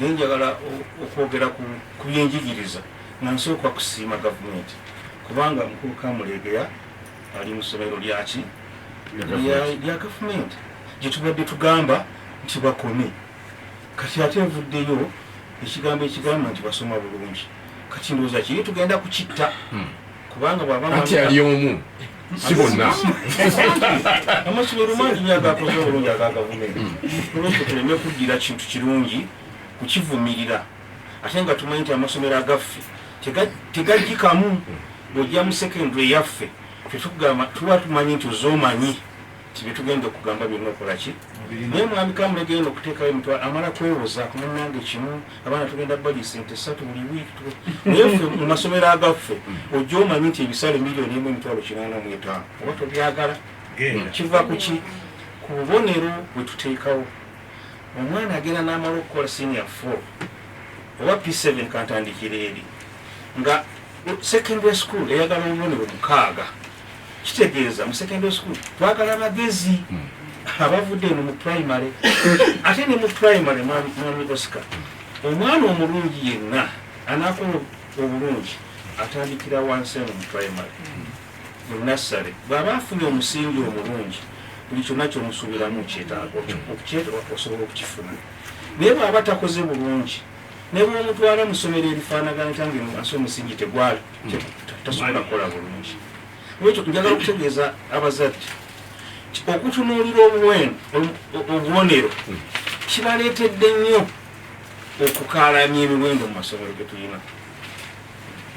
naye njagala okwogera ku byenjigiriza nga nsooka kusiima gavumenti kubanga mukulu kamulegeya ali mu ssomero lyaki lya gavumenti gyetubadde tugamba nti bakome kati ate nvuddeyo ekigambo ekigamba nti basoma bulungi kati ndowooza kiri tugenda kukitta hmm. kubanga bwaba anti ali omu si bonna amasomero mangi nyo agakoze obulungi aga gavumenti tuleke tuleme kuddira kintu kirungi kukivumirira ate nga tumanyi nti amasomero agaffe tegajikamu bwojja mu secondary yaffe tetugamba tuba tumanyi nti ozomanyi nti byetugenda okugamba byonna okolaki naye mwami kamulega eno okuteekayo mutw amala kwewoza kumunange kimu abaana tugenda bali sente satu buli wiiki naye ffe mu masomero agaffe ojja omanyi nti ebisale miliyoni emu emitwalo kinaana mu etaano oba tobyagala kiva kuki ku bubonero bwe tuteekawo omwana agenda n'amala okukola senior four oba p seven kantandikira eri nga secondary school eyagala obubonero mukaaga kitegeeza mu secondary school twagala bagezi hmm. abavudde eno mu primary ate ne mu primary mwami oscar omwana omulungi yenna anakola obulungi atandikira wansi eno mu primary hmm. mu nassary bw'aba afunye omusingi omulungi buli kyonna kyomusuubiramu kyetaaga hmm. osobola okukifuna naye bw'aba takoze bulungi ne bwomutwala mu ssomero erifaanagana tange mu nsi omusingi tegwali tasobola kukola bulungi lwekyo njagala okutegeeza abazadde okutunuulira obuweno obubonero kibaleetedde nnyo okukaalanya emiwendo mu masomero ge tulina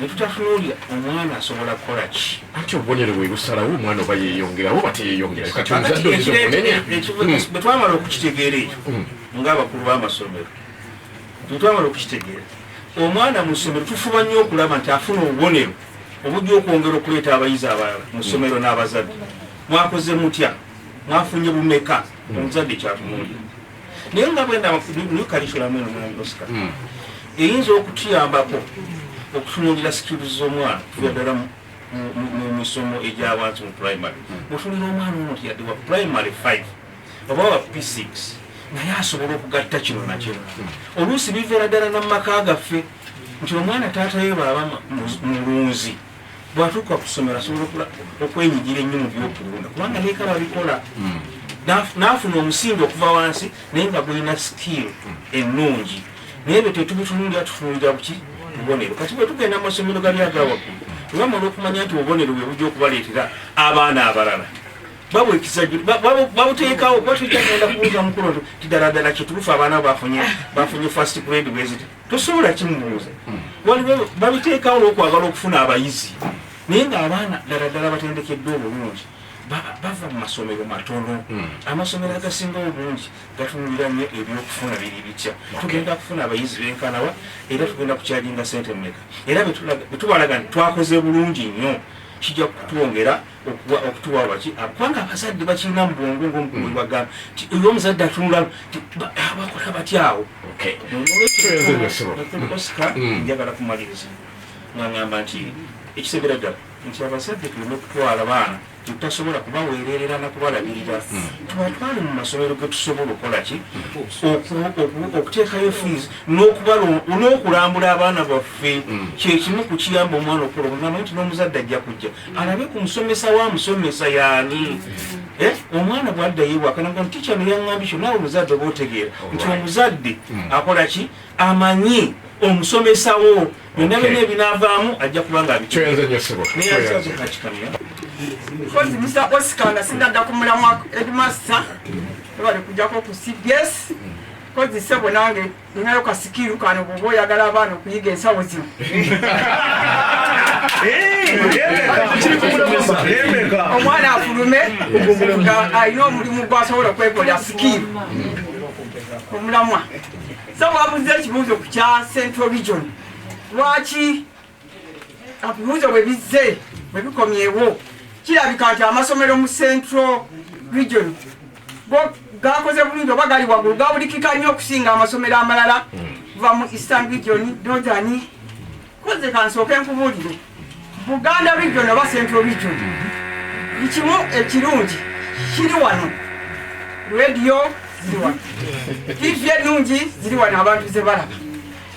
netutatunuulira omwana asobola kukola ki anti obubonero bwe busalawo omwana oba yeyongera oba teyeyongera kati omuzadde oyinza okunenya bwe twamala okukitegeera ekyo hmm. ng'abakulu b'amasomero Kino twagala okukitegeera. Omwana mu ssomero tufuba nnyo okulaba nti afuna obubonero obujja okwongera okuleeta abayizi abalala mu ssomero n'abazadde. Mwakoze mutya? Mwafunye bumeka? Omuzadde kyatunuulira. Naye nga bwenda new curriculum eno mwana Oscar hmm. eyinza okutuyambako okutunuulira skills z'omwana tuya ddala mu misomo egya wansi mu primary. Mutunira hmm. omwana ono tiyadde wa primary five oba wa p6 naye asobola okugatta kino nakyo oluusi biveera ddala namumaka gaffe nti omwana taatayo baaba mulunzi bwatuuka kusomero asobola okwenyigira ennyo mu byokulunda kubanga neeka babikola hmm. nafuna omusingi okuva wansi naye nga gulina skill hmm. ennungi naye byo tetubitunulira tutunulira buki bubonero kati bwetugenda mu masomero gali agawaggulu tubamala okumanya nti obubonero bwe bujja okubaleetera abaana abalala babu ekisajju babu babu tekawo kwa tujja kenda kuuza mukulu nti tidala dala kiturufu abana bafunye bafunye first grade visit tusobola kimuuza hmm. wali babu babu tekawo lokwagala okufuna abayizi naye nga abaana dala dala batendekeddwa obulungi bava mu masomero matono hmm. amasomero agasinga obulungi gatunulira nnyo ebyokufuna biri bitya tugenda kufuna abayizi benkanawa era tugenda kukyajinga sente mumeka era betubalaga nti twakoze bulungi nnyo kijja kutwongera okuwa okutuwa waki ah, kubanga abazadde bakirina mu bwongo ngaomukumu bagamba ti oyo omuzadde atunula ti ah, bakola batya awo osika hmm. njagala kumaliriza ngangamba nti ekisebera ddala nti abazadde tulina okutwala baana tutasobola kubaweererera nakubalabirira hmm. tubatwale mu masomero getusobola okukola ki okuteekayo fees n'okulambula abaana baffe hmm. kyekimu ku kiyamba omwana okuloa nti n'omuzadde ajja kujja alabe ku musomesa wa musomesa yaani eh, omwana bwaddayo ewaka naga nti kyano yaŋŋambi kyo naawe omuzadde oba otegeera nti omuzadde hmm. akola ki amanyi omusomesa wo byonna byonna ebinaavaamu ajja kuba nga abikyenzenyosebakikamya kozi misa osika nga sinadda ku mulamwa edimasta ebale kujjako ku cbs kozi sebo nange Ninayo kasikiru kano bwoba oyagala abaana okuyiga ensawo zino. Omwana afulume nga alina omulimu gwasobola okwekolera sikiru omulamwa. Sebo abuze ekibuuzo ku kya Central Region. Lwaki ebibuuzo bwe bizze bwe bikomyewo kirabika nti amasomero mu central region go gakoze bulungi oba gali waggulu gabulikika nnyo okusinga amasomero amalala kuva mu eastern region northern koze kansooke nkubuulire buganda region oba central region bikimu ekirungi kiri wano radio ziri wano tv ennungi ziri wano abantu ze balaba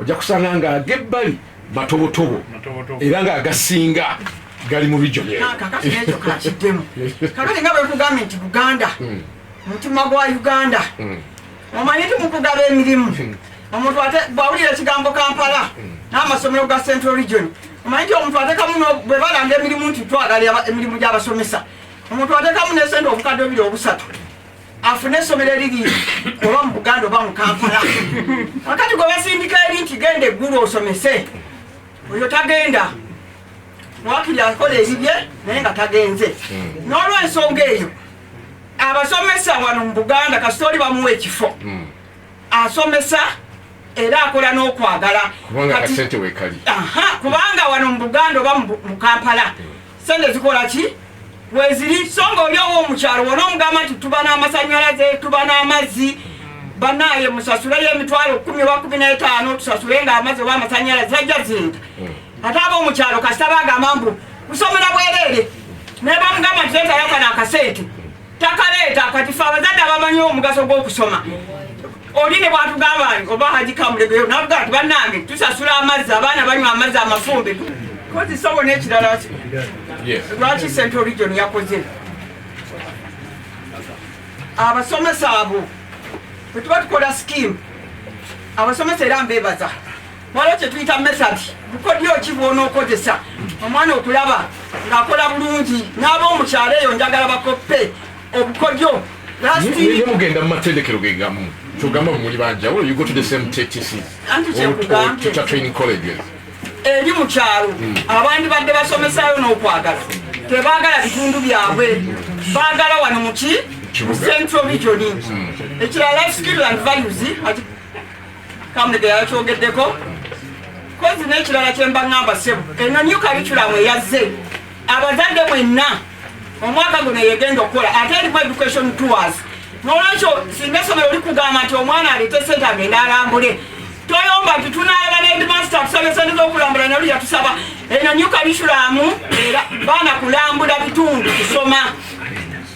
ojja kusanga nga agebbali matobotobo era nga agasinga gali mu rijonekakatinekyokakitemu kakati nga bwekugambye nti buganda hmm. mutima gwa uganda hmm. omanyi ti mukugaba emirimu hmm. omuntu bwawulira ekigambo kampala n'amasomero ga central region omanyi ti omuntu atekamu bwe balanga emirimu nti twagala emirimu gy'abasomesa omuntu atekamu nesente obukadde obiri obusatu afune esomero eriri oba mu buganda oba mu kampala akati gwe basindika eri nti genda eggulu osomese oyo tagenda wakiri akola ebibye naye nga tagenze hmm. n'olwensonga eyo abasomesa wano mu buganda kasita oli bamuwa ekifo hmm. asomesa era akola n'okwagala kubanga wano mu buganda oba mu kampala hmm. sente zikola ki weziri so nga oli owo omukyalo wona omugamba nti tuba n'amasanyalaze tuba n'amazzi banaye musasuleyo emitwalo kumi wa kumi n'etaano tusasule nga amazzi oba amasanyalaze zajja zinta hmm. ate aba omukyalo kasita bagamba mbu kusomera bwereere naye bamugamba nti letayo kano akasente takaleeta kati fe abazadde abamanyi omugaso gw'okusoma oli ne bwatugamba nti oba haji kamulegeyo nabugaa ti bannange tusasula amazzi abaana banywa amazzi amafumbe kozi sobo n'ekirala lwaki sente origion yakoze abasomesa abo bwetuba tukola skimu abasomesa era mbebaza waliwo kyetuyita method bukodyo ki bwonookozesa omwana okulaba ng'akola bulungi n'aba omukyalo eyo njagala bakoppe obukodyo mugenda mu matendekero gegamu kyogamba mumuli banjawulo you go to the same ttc teacher training colleges eri mu kyalo hmm. abandi badde basomesayo n'okwagala tebagala bitundu byabwe bagala wano muki central region hmm. ekirala life skill and values Kamulega yakyogeddeko kozi n'ekirala kye mba ŋŋamba ssebo eno new curriculum eyazze abazadde mwenna omwaka guno yegenda okukola ate erimu education tours nolwekyo singa essomero likugamba nti omwana aleete sente agende alambule toyomba nti tunalaba nedmaster tusaba esente zokulambula nalu yatusaba eno new curriculum era baana kulambula bitundu kusoma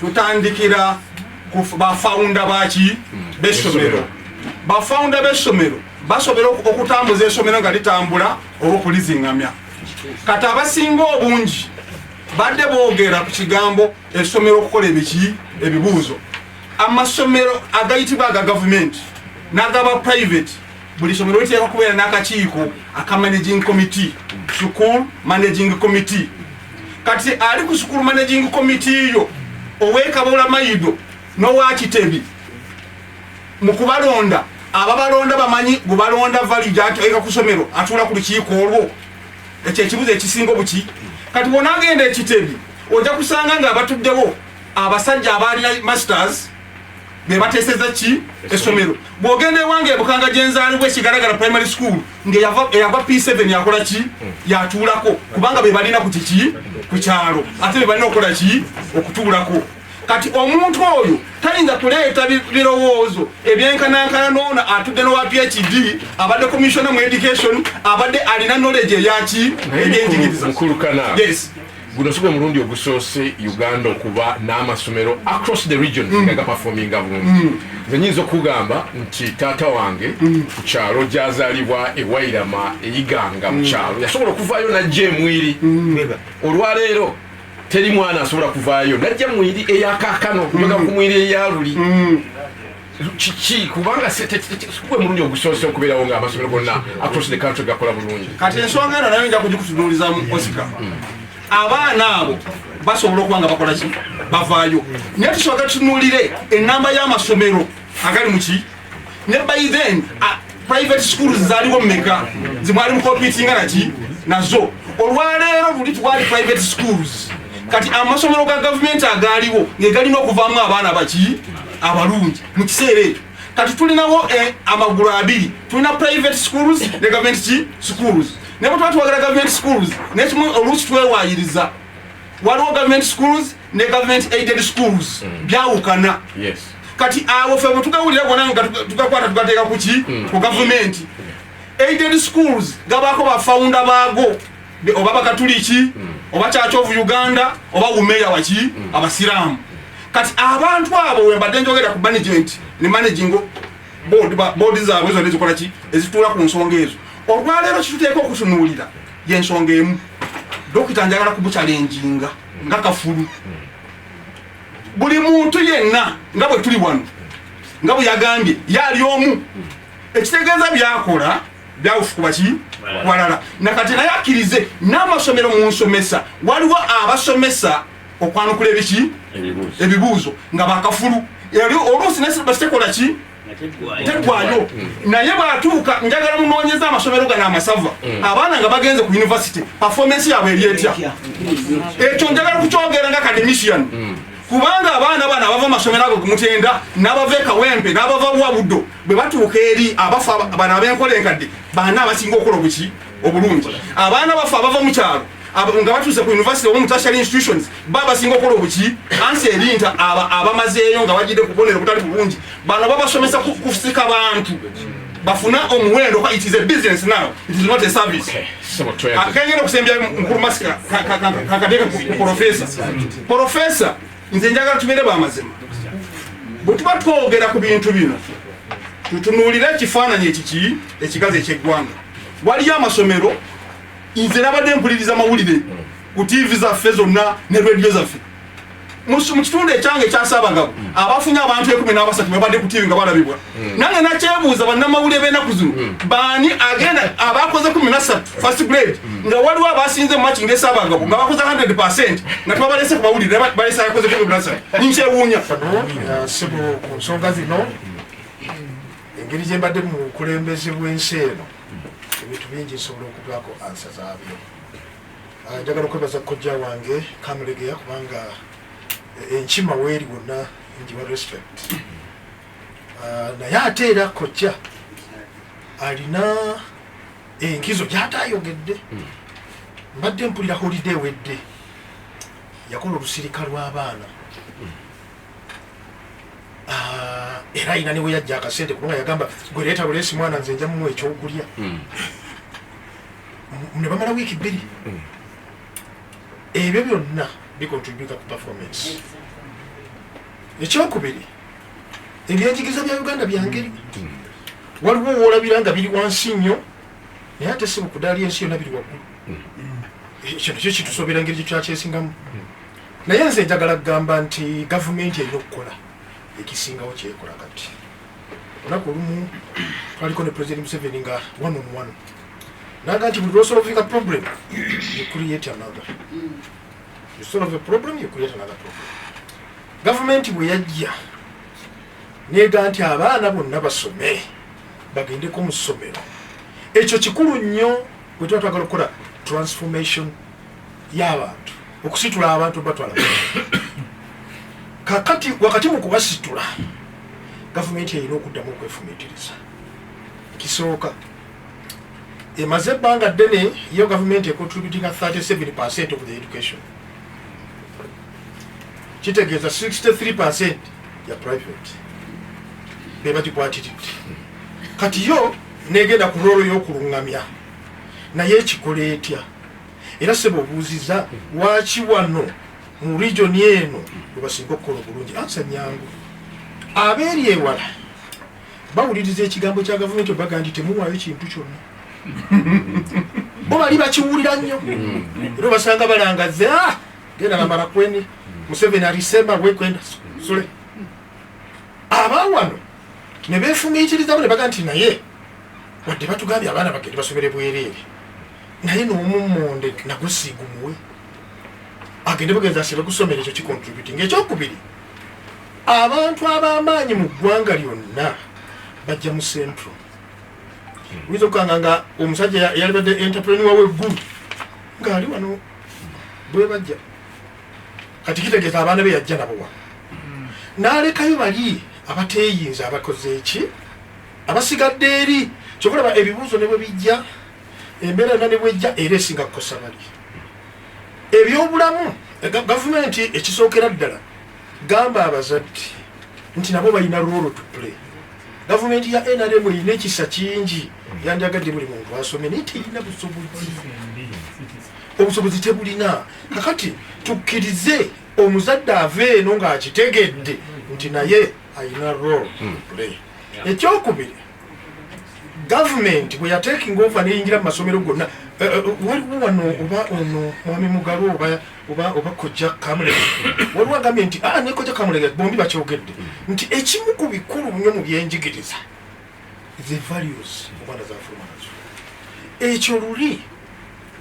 tutandikira ku bafawunda baki bessomero bafawunda bessomero basobola okutambuza esomero nga litambula oba okulizingamya kati abasinga obungi badde boogera ku kigambo esomero okukola ebiki ebibuuzo amasomero agayitibwa aga gavumenti n'agaba private buli somero liteekwa kubeera n'akakiiko aka managing committee school managing committee kati ali ku school managing committee yo owekabola mayido nowakitebi mu kubalonda ababalonda bamanyi gubalonda valid ati eka kusomero atula ku lukiiko olwo ekyo ekibuzo ekisinga obuki kati wona agenda ekitebi ojja kusanga nga abatuddewo abasajja abaali masters bebateseza ki esomero bwogenda ewange ebukanga gyenzaalibwa ekigalagala primary school ngeyava p7 yakola ki hmm. yatuulako kubanga bebalina ku kiki ku kyalo ate bebalina okukola ki okutuulako kati omuntu oyo tayinza kuleeta birowoozo ebyenkanankana noona atudde nowa phd abadde commissiona mu education abadde alina knowledge eyaki ebyenjigiriza Guno sigwe mulundi ogusoose Uganda okuba n'amasomero across the region mm. nga gapafominga bulungi mm. nze nyinza okugamba nti taata wange mm. ku kyalo gyazaalibwa ewairama eyiganga mu kyalo yasobola okuvaayo najja emwiri olwaleero teri mwana asobola kuvaayo najja mwiri eyakakano kubaga ku mwiri eyaluli kiki kubanga gwe mulundi ogusoose okubeerawo nga amasomero gonna across the country gakola bulungi kati ensonga eno nayo nja kugikutunuulizamu osika abaana abo basobola okuba nga bakola ki bavaayo naye tusooke tutunuulire enamba y'amasomero agali muki ne by then private schools zaliwo meka zimwali mukompitinga naki nazo olwaleero luli twali private schools kati amasomero ga gavumenti agaaliwo ngegalina okuvaamu abaana baki abalungi mu kiseera ekyo kati tulinawo eh, amagulu abiri tulina private schools ne gavumenti ki schools naye bwetuba tuwagala gavumenti schools nekimu oluusi twewayiriza waliwo gavumenti schools ne government aided schools mm. byawukana yes. kati awo fe bwetugawulira gona nga tugakwata tugateeka kuki mm. ku gavumenti mm. aided schools gabaako bafaunda baago oba bakatuliki mm. oba church of uganda oba wumeya waki mm. abasiraamu kati abantu abo wembadde njogera ku management ne managing board board zaabwe zona ezikola ki ezituula ku nsonga ezo olwaleero kituteeka okutunuulira yensonga emu dokita njagala kumucalenjinga nga kafulu buli muntu yenna nga bwe tuli wano nga bwe yagambye yaali omu ekitegeeza byakola byawufu kuba ki walala nakati naye akkirize n'amasomero mu nsomesa waliwo abasomesa okwanukula ebiki ebibuuzo nga bakafulu oluusi nesibasitekola ki teggwayo naye bwatuuka njagala munoonyeza amasomero gano amasava mm. abaana nga bagenze ku univesity performance yaabwe eri etya ekyo njagala kukyogera nga academician mm. kubanga abaana bano abava amasomero ago kumutenda n'abava ekawempe n'abava wabudo bwe batuuka eri abafa bano abenkola enkadde baana abasinga okukola obuki obulungi abaana baffe abava mu kyalo nga batuuse ku university oba mutashary institutions baba basinga okukola obuki ansi ebinta abamazeeyo nga bajidde kubonero butali bulungi bano babasomesa kusika bantu bafuna omuwendo it is a business now it is not a service akengenda okusembya mukulu masika kakateka ku profesa profesa nze njagala tubeere bamazima bwetuba twogera ku bintu bino tutunuulire ekifaananyi ekiki ekigazi ekyeggwanga waliyo amasomero nze nabadde mpuliriza mawulire ku tiivi zaffe zonna ne rediyo zaffe mu kitundu ekyange ekyasaabagabo mm. abafunye abantu ekumi n'abasatu babadde ku tiivi nga balabibwa mm. nange nakyebuuza bannamawulire b'enaku zino mm. baani agenda abakoze kumi nasatu first grade nga waliwo abasinze mumaki ngaesaabagabo nga bakoze 100 percent nga tebabalese ku mawulire balese akoze kumi nasatu nkyewuunya sibu ku nsonga zino engeri gyembadde mu bukulembeze bw'ensi eno ebintu bingi nsobola okugwako ansa zaabyo ah, njagala okwebaza kojja wange kamulegeya kubanga eh, enkima weeri wonna njiwa respect ah, naye ate era kojja alina enkizo gyataayogedde hmm. mbadde mpulira holiday wedde yakola olusirika lw'abaana ah, era ayina niwe yajja akasente kubanga yagamba gwe leeta buleesi mwana nze nja mumuwa ekyokulya hmm. ne bamala wiiki bbiri hmm. ebyo byonna bikontributa ku performance ekyokubiri ebyenjigiriza bya uganda byangeri hmm. waliwo woolabira nga biri wansi nnyo naye ate si bukudaali ensi yonna biri waggulu ekyo nakyo kitusobera ngeri gyekyakyesingamu naye nze njagala kugamba nti gavumenti erina okukola ekisingawo kyekola kati olunaku olumu twaliko ne president museveni nga one on one naga nti buli lwosolvinga problem you create another you solve a problem you create another problem gavumenti bwe yajja nega nti abaana bonna basome bagendeko mu ssomero ekyo kikulu nnyo bwe tuba twagala okukola transformation y'abantu okusitula abantu batwala kakati wakati mu kubasitula gavumenti erina okuddamu okwefumitiriza kisooka emaze ebbanga ddene yo gavumenti econtributinga 37 percent of the education kitegeeza 63 percent ya private bebagikwatiridde kati yo negenda ku loolo y'okulungamya naye ekikola etya era sebo obuuziza lwaki wano mu region eno webasinga okukola obulungi ansa nyangu abeeri ewala bawuliriza ekigambo kya gavumenti obaga nti temuwaayo kintu kyonna bo bali bakiwulira nnyo era obasanga balangaze ah, genda namara kweni museveni alisema wekwenda sule abawano ne befumiitirizamu ne baga nti naye wadde batugambye abaana bagende basomere bwereere naye nomummonde nagusiigumuwe agende bugenzi asibe kusomera ekyo kicontributing ekyokubiri abantu abamaanyi mu ggwanga lyonna bajja mu centro hmm. oyinza okukanga nga omusajja yalibadde entreprenua weggulu ngaali wano bwebajja kati kitegeeza abaana be yajja nabowa hmm. nalekayo bali abateyinza abakoze eki abasigadde eri kyokulaba ebibuuzo ne bwe bijja embeera yona nebwejja era esinga kukosa bali ebyobulamu eh, gavumenti ekisookera ddala gamba abazadde nti nabo balina rolo to play gavumenti ya nrm erina ekisa kingi yandyagadde buli muntu asome naye terina busobozi obusobozi tebulina kakati tukkirize omuzadde ava eno ng'akitegedde nti naye alina role hmm. play ekyokubiri gavumenti bwe yatekinga ova neyingira mu masomero gonna eh, eh, waliwo wano oba ono mwami mugalu oba kojja kamulega waliwo agambye nti ah, nekojja kamulega bombi bakyogedde nti ekimu ku bikulu nyo mu byenjigiriza the values omwana zafuluma nazo ekyo luli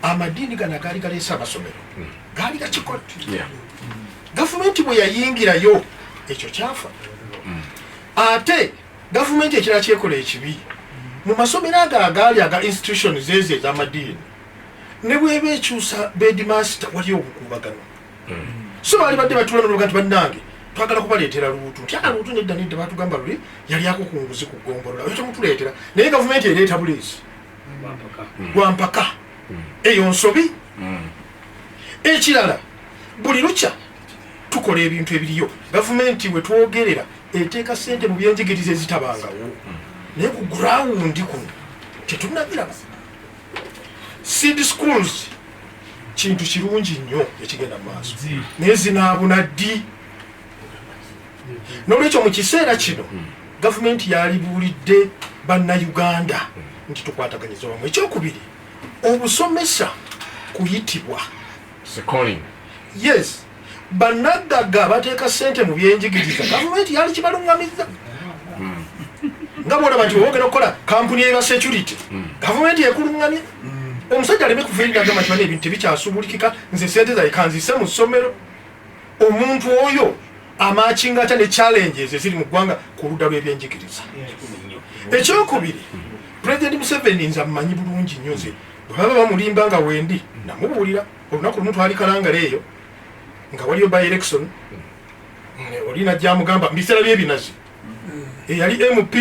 amadiini gano agaali galeese amasomero hmm. gaali gakikola gavumenti bwe yayingirayo ekyo kyafa hmm. ate Gavumenti ekirala kyekola ekibi mu masomero ago agaali aga institution zeezi ez'amadiini ne bweba ekyusa bedmaster wali obukuubagano hmm. so baali badde batula noga nti bannange twagala kubaleetera luutu nti aa luutu nedda nedda batugamba luli yali ako ku nguzi ku ggombolola oyo temutuleetera naye gavumenti ereeta buleezi lwampaka hmm. eyo nsobi hmm. ekirala buli lukya tukola ebintu ebiriyo gavumenti wetwogerera eteeka sente mu byenjigiriza ezitabangawo naye ku gurawundi kuno tetunabiraba seed schools kintu kirungi nnyo ekigenda mu maaso naye zinaabuna ddi nolwekyo mu kiseera kino hmm. gavumenti yalibuulidde bannayuganda nti tukwataganyiza wamu ekyokubiri obusomesa kuyitibwa yes banaggaga bateeka sente mu byenjigiriza gavumenti yali kibalungamizza nga bwolaba nti wewogera okukola kampuni eba security gavumenti ekulungamye omusajja aleme kufiirira agamba nti bana ebintu tebikyasubulikika nze sente zaye kanzise mu ssomero omuntu oyo amakinga atya ne challenges eziri mu ggwanga ku ludda lw'ebyenjigiriza ekyokubiri president museveni nze amumanyi bulungi nnyo nze Bwe baba bamulimba nga wendi namubuulira olunaku lumu twali kalangala eyo nga waliyo by election oli najja amugamba mubiseera byebinazi eyali mp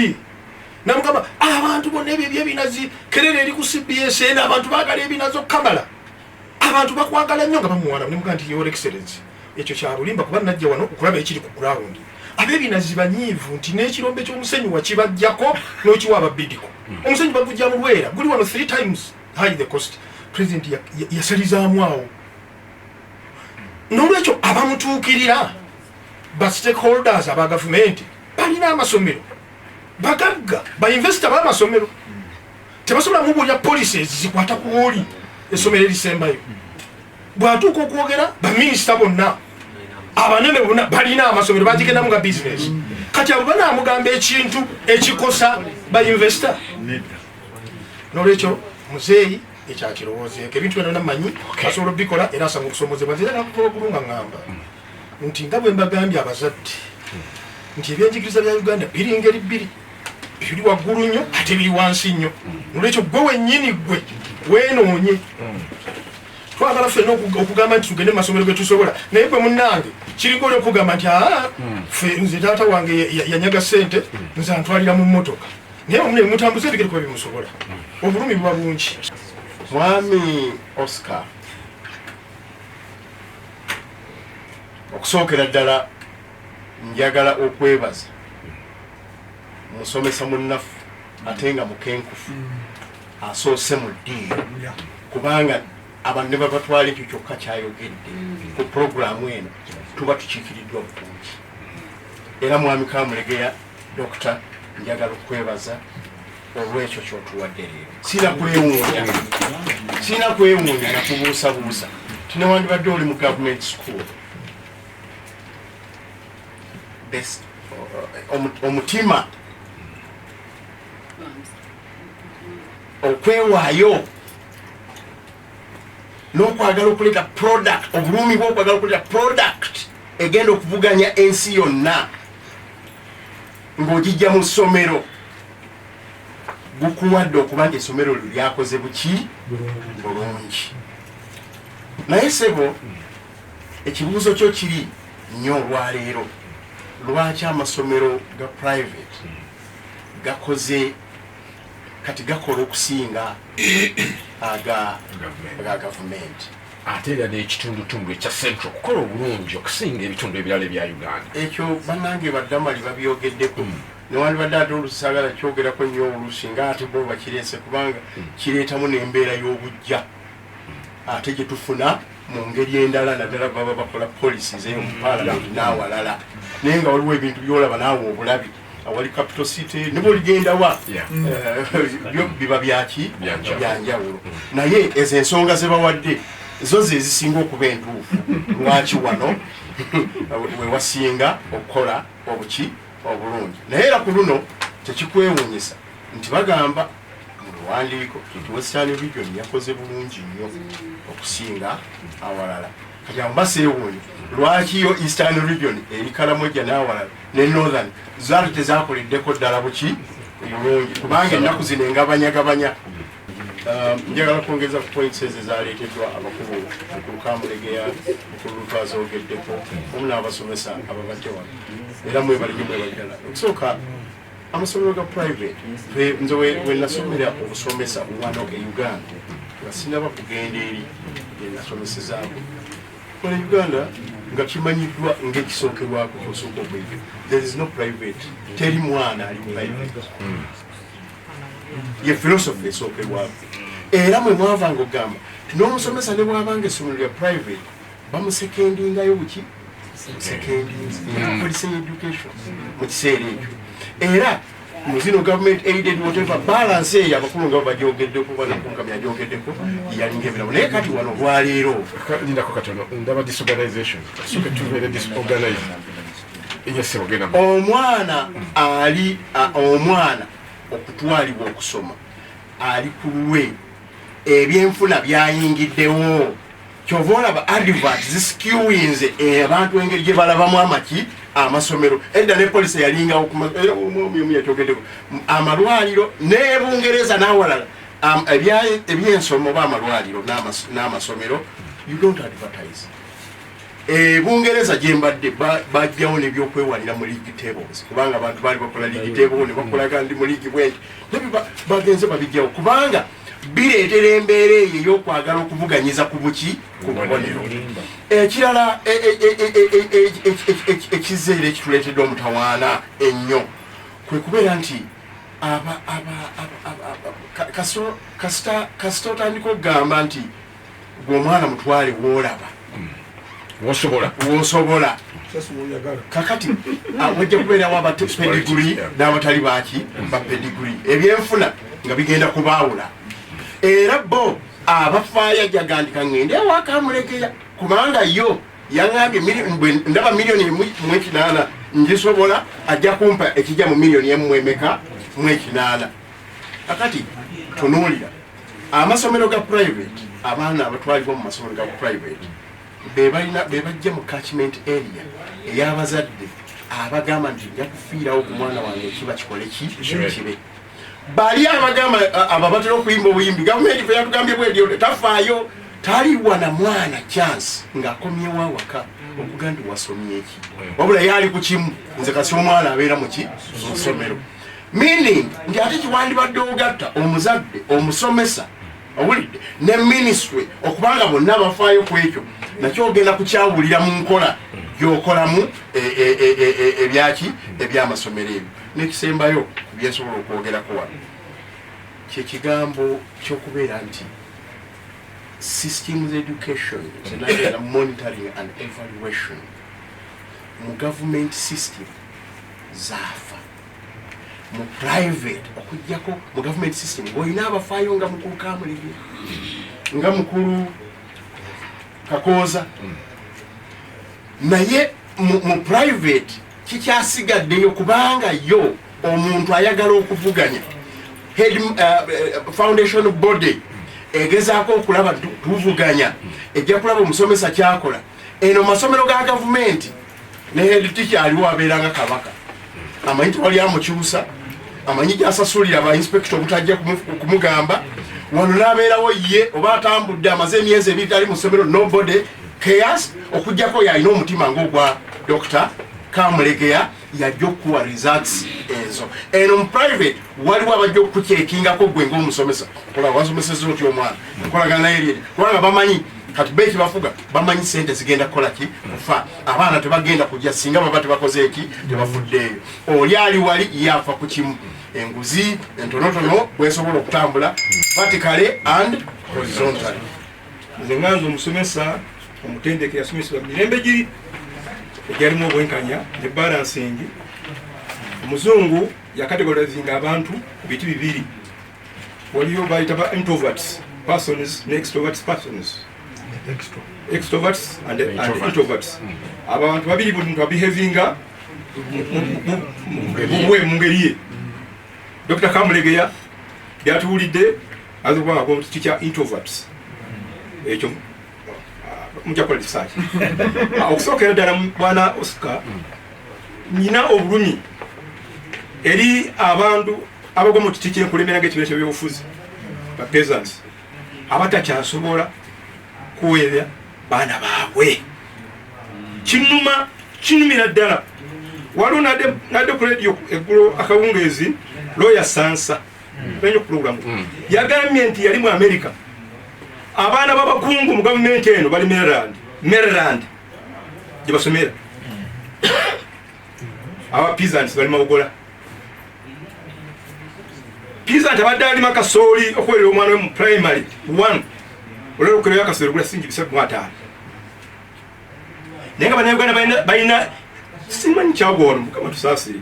namugamba abantu bonna ebyo ebyebinazi kerere eri ku cbs eno abantu bagala ebinazi okukamala abantu bakwagala nnyo nga bamuwana nemuga nti your excellence Ekyo kya bulimba kuba najja wano okulaba ekiri ku ground. Abebinazi banyiivu nti n'ekirombe ky'omusenyu wakibajjako n'okiwa ababidiko. Hmm. Omusenyu bagujja mu Lwera guli wano three times high the cost. President yasalizaamu awo. N'olwekyo abamutuukirira ba stakeholders aba gavumenti balina amasomero bagagga bainvesita bamasomero tebasobola mubuulira policies zikwata ku oli essomero erisembayo bwatuuka okwogera baminisita bonna abanene bona balina amasomero bagigendamu nga bizinesi kati abo banamugamba ekintu ekikosa bainvesta nolwekyo muzeeyi ekyakirowoozeeko ebintu byona namanyi asobola obikola era asanga okusomozebwa nzira nakukola okulu nga ngamba nti nga bwe mbagambye abazadde nti ebyenjigiriza bya uganda biri ngeri bbiri ebiri waggulu nnyo ate biri wansi nnyo nolwekyo gwe wennyini gwe wenoonye twagala fena okugamba nti tugende mumasomero getusobola naye gwe munange kiringa oli okugamba nti aa fe nze taata wange yanyaga sente nze antwalira mu motoka naye omune mutambuza ebigere kuba bimusobola obulumi buba bungi mwami oscar okusookera ddala Njagala okwebaza musomesa munnafu ate nga mukenkufu asoose mu ddiiro kubanga abantu ne babatwala ekyo kyokka kyayogedde ku pulogulaamu eno tuba tukiikiriddwa bulungi era mwami kamulegeya dokita njagala okukwebaza olwekyo kyotuwadde leero sina kwewuunya sina kwewuunya nakubuusabuusa tinewandibadde oli mu gavumenti school omutima okwewaayo n'okwagala okuleeta product obulumi bwokwagala okuleeta product egenda okuvuganya ensi yonna ng'ogijja mu ssomero gukuwadde okuba nti essomero lyo lyakoze buki bulungi naye sebo ekibuuzo kyo kiri nnyo olwaleero lwaki amasomero ga private gakoze kati gakola okusinga aga gavumenti ate era n'ekitundutundu ekya central okukola obulungi okusinga ebitundu ebirala ebya uganda ekyo banange badamali babyogeddeko hmm. newandibadde ate olusagala kyogerako nnyo oluusi nga ate bo bakireese kubanga hmm. kireetamu n'embeera y'obujja ate gye tufuna mu ngeri endala naddala baba bakola policies eyo mu palamenti n'awalala naye nga waliwo ebintu byolaba naawe obulabi awali capital city niba oligendawa eh, biba byaki byanjawulo naye ezo ensonga ze bawadde zo ze zisinga okuba entuufu lwaki wano wewasinga okukola obuki obulungi naye era ku luno tekikwewunyisa nti bagamba mubiwandiiko nti western region yakoze bulungi nnyo okusinga awalala kati awo baseewuunya lwaki yo eastern region eri kalamoja n'awalala ne northern zaali tezakoleddeko ddala buki bulungi kubanga ennaku zino engabanyagabanya um, njagala kwongeza ku points ezo ezaleeteddwa abakulu mukulu kamulegeya mukulu lutwazogeddeko omu n'abasomesa ababadde wano era mwebalinyo mwebaddala okusooka amasomero ga private nze wenasomera okusomesa wano e uganda nga sinaba kugenda eri enasomesezaako kola uganda nga kimanyiddwa ngaekisookerwako kyosooka okuyiga there is no private teri mwana ali private hmm. ye philosophy esookerwako era mwe mwavanga okugamba ti n'omusomesa ne bwabanga essomero lya private bamusekendingayo buki sekendinzi policing education mu kiseera ekyo era muzino government aided whatever balance eyo abakulu nga bajogeddeko banakunkami ajogeddeko yalinga ebiramu naye kati wano olwaleero lindako katono ndaba disorganization soke tubeere disorganize omwana ali omwana okutwalibwa okusoma ali ku lulwe ebyenfuna byayingiddewo kyova olaba advert zisikiwinze eh, abantu engeri gye balabamu amaki amasomero edda ne polisi yalingawo eh, yatyogeddeko amalwaliro ne bungereza n'awalala ebyensoma oba amalwaliro n'amasomero you don't advertise eh, bungereza gyembadde bajjawo nebyokwewalira mu league tables kubanga abantu baali bakola league table nebakolaga ndi mu league bwenti bagenze babijjawo kubanga bireetera embeera eyo ey'okwagala okuvuganyiza ku buki ku bubonero ekirala ekizza era ekituleetedde omutawaana ennyo kwe kubeera nti kasita otandika okugamba nti gwe omwana mutwale wolaba wosobola wosobola kakati ah, wajja kubeerawo abapediguri n'abatali baki bapediguri ebyenfuna nga bigenda kubaawula era bo abafaayo ajagandika ngende ewakamulekeya kubanga yo yaŋambye ndaba miliyoni mwekinaana ngisobola ajja kumpa ekijja mu miliyoni emu emeka mwekinaana kakati tunuulira amasomero ga private abaana abatwalibwa mu masomero ga private bebalina bebajja mu catchment area eyabazadde abagamba nti nja kufiirawo ku mwana wange ekiba kikole ki kibe bali abagamba abo abatera okuyimba obuyimbi gavumenti fe yatugambye bwedi tafaayo taliwa na mwana chance ng'akomyewo awaka okugaa nti wasomyeki wabula yaali ku kimu nze kasi omwana abeera muki mu ssomero meaning nti ate kiwandibadde ogatta omuzadde omusomesa owulidde ne ministry okubanga bonna bafaayo ku ekyo nakyo ogenda kukyawulira mu nkola gyokolamu e, e, e, ebyaki ebyamasomero ebyo nekisembayo byensobola okwogerako wano kyekigambo kyokubeera nti systems education zenagera monitoring and evaluation mu government system zaafa mu private okujjako mu government system olina abafaayo nga mukulu kamulege nga mukulu kakooza naye mu private kikyasigaddeyo kubanga yo omuntu ayagala okuvuganya head uh, uh, foundation body egezaako okulaba tuvuganya ejja kulaba omusomesa kyakola eno masomero ga gavumenti neheditiki aliwo abeera nga kabaka amanyi tewali amukyusa amanyi gyasasulira ba inspekita obutajja kumugamba wano nabeerawo ye oba atambudde amaze emyezi ebiri tali mu ssomero nobody chaos okujjako yalina omutima ngaogwa dr kamulegeya yajja okukuwa results ezo eno mu private waliwo abajja okukukyekingako gwe ngaomusomesa kola wasomeseza otya omwana nkolagana naye lyeri kubanga bamanyi kati be kibafuga bamanyi sente zigenda kukola ki kufa abaana tebagenda kujja singa baba tebakoze eki tebafuddeeyo oli ali wali yafa ku kimu enguzi entonotono bwesobola okutambula vertically and horizontal nze nganza omusomesa omutendeke yasomesebwa mirembe giri egyalimu obwenkanya ne balansingi omuzungu yakategorizinga abantu ku biti bibiri waliyo bayita ba introverts persons ne extroverts persons extroverts and, and introverts hmm. abantu babiri buli muntu abehavinga muwe mu ngeri ye dr kamulegeya byatuwulidde aza okuba ngako kiti kya introverts hmm. ekyo mujja kola research ah, okusookera ddala bwana oscar hmm. nyina obulumi eri abantu abagwa mu kiti kyenkulembera nga ekibiina kyebyobufuzi bapesants abatakyasobola kuweebya baana baabwe kinuma kinumira ddala waliwo nadde ku radio eggulo akawungeezi looya sansa nanyo pulogulamu hmm. yagambye nti yali mu amerika abaana babakungu mu gavumenti eno bali maryland maryland gyebasomera hmm. abapeasants bali mawogola Pizza tabadde alima kasooli okuwerera omwana we mu primary one olwera okukereyo akasooli ogula singi bisatu mwataano naye nga banauganda balina simanyi kyagwano mukama tusaasire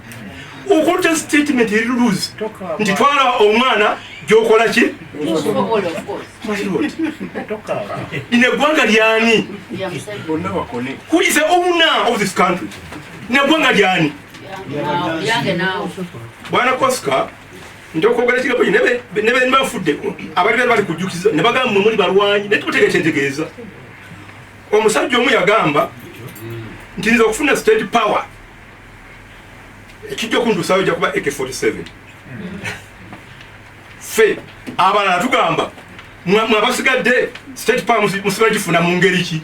okulta statement eri luluzi nti twala omwana gyokola ki lino eggwanga lyani kulisa owner of this country neggwanga lyani bwana kosika njokwogera kigabo ne beni bafuddeko abali bali bali kujjukiza ne bagamba mwe muli balwanyi naye tukuteeka ekyentegeeza omusajja omu yagamba nti nze okufuna state power ekijja okuntuusayo jakuba ak 47 ffe abalala tugamba mwabasigadde state power musiba gifuna mu ngeri ki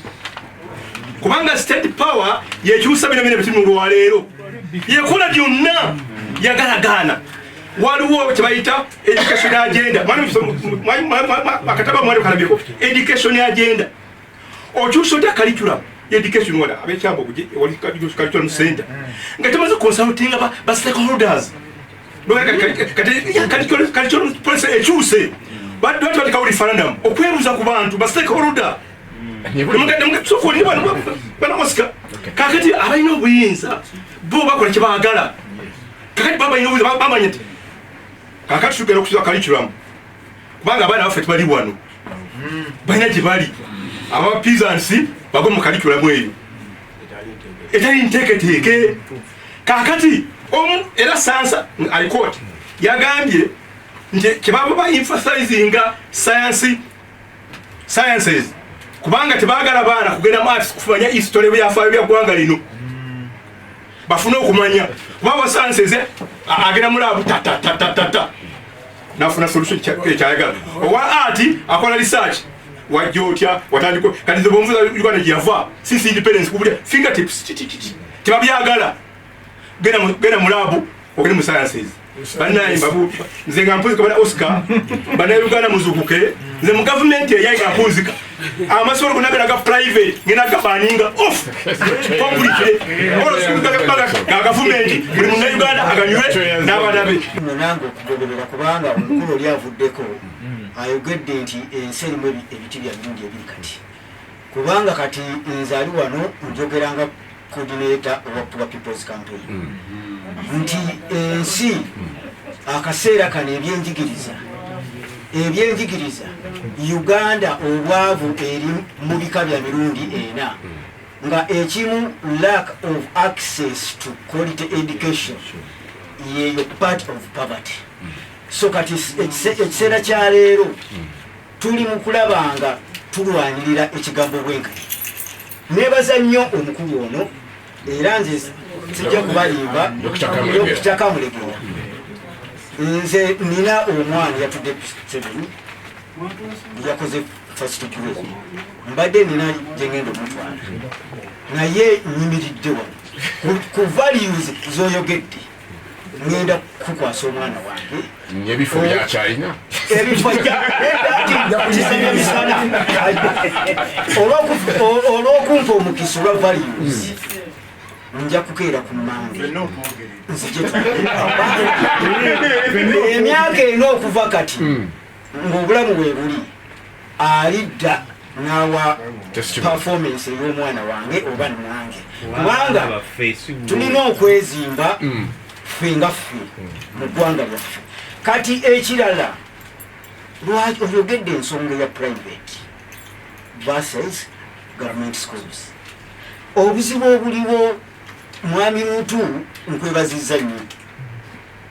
kubanga state power yekyusa bino bino bituli mulwaleero yekola byonna yagalagaana waliwo kyebayita education agenda akataba mwali kalabyeko education agenda okyusa otya curriculum education wala abekyambo kuje wali curriculum center nga tamaze consulting ba ba stakeholders noyaka kati curriculum policy ekyuse batu batu batu kawuli referendum okwebuza ku bantu ba stakeholder banamusika kakati abalina obuyinza bo bakola kyebagala kakati babalina obuyinza bamanya nti kakati tugenda okusiba curriculum kubanga abaana baffe tebali wano balina gye bali aba pisansi bagwe mu kalikulamu eyo etali nteeketeeke kakati omu era sansa alikot yagambye nti kyebaba ba emphasizinga science sciences kubanga tebagala baana kugenda mu arts kufumanya history byafaayo bya ggwanga lino bafune okumanya kuba wasansi eze agenda mulabu tatatatata nafuna solution kyayagala owa ati akola research wajja otya watandika kati nze bwomufuza uganda gyeyava since independence kubulya fingertips tebabyagala genda mu laabu ogende mu sciences banaye mbabu nze nga mpunzika bana oscar banaye uganda muzukuke nze mu gavumenti eyayi nga mpunzika amasomero gona galaga private ngenda gabaninga off kompulike olosikugaga gavumenti buli munauganda aganywe n'abana be gogoberera kubanga omukulu oli avuddeko mm. ayogedde nti ensi erimu ebiti bya mirundi ebiri kati kubanga kati nzali wano njogeranga coordinator owa poor people's campaign mm. nti ensi akaseera kano ebyenjigiriza ebyenjigiriza uganda obwavu eri mu bika bya mirundi ena mm. nga ekimu lack of access to quality education yeyo part of poverty so kati ekiseera kya leero tuli mu kulaba nga tulwanirira ekigambo bwenkati nebaza nnyo omukulu ono era nze sijja kubalimba okukya kamulegera nze nina omwana yatudde seven yakoze mbadde nina gyengenda omutwala naye nyimiridde wano ku values zoyogedde ngenda kukwasa omwana wange ebifo byakyalina ebifoisaemisana olwokumpa omukisa olwa values nja kukeera ku mande nzije emyaka ena okuva kati hmm. ng'obulamu bwe buli alidda n'awa performance ey'omwana wange oba nange kubanga tulina okwezimba mm. ffe nga ffe mm. mu ggwanga lyaffe kati ekirala lwaki oyogedde ensonga ya private versus government schools obuzibu obuliwo mwami mutu nkwebaziza nnyo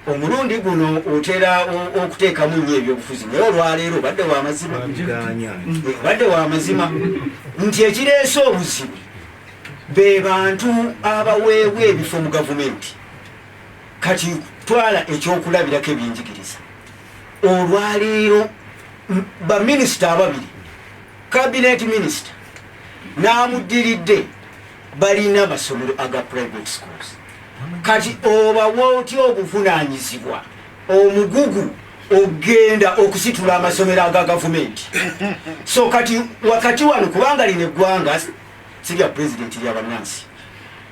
omulundi guno otera okuteekamu nnyo ebyobufuzi naye olwaleero obadde wamazima obadde wamazima nti ekireese obuzibu be bantu abaweebwa ebifo mu gavumenti kati twala ekyokulabirako ebyenjigiriza olwaleero baminisita ababiri kabineeti minisita n'amuddiridde balina amasomero aga private schools kati obawa otya obuvunanyizibwa omugugu okugenda okusitula amasomero aga gavumenti so kati wakati wano kubanga lino eggwanga sirya pulezidenti lya bannansi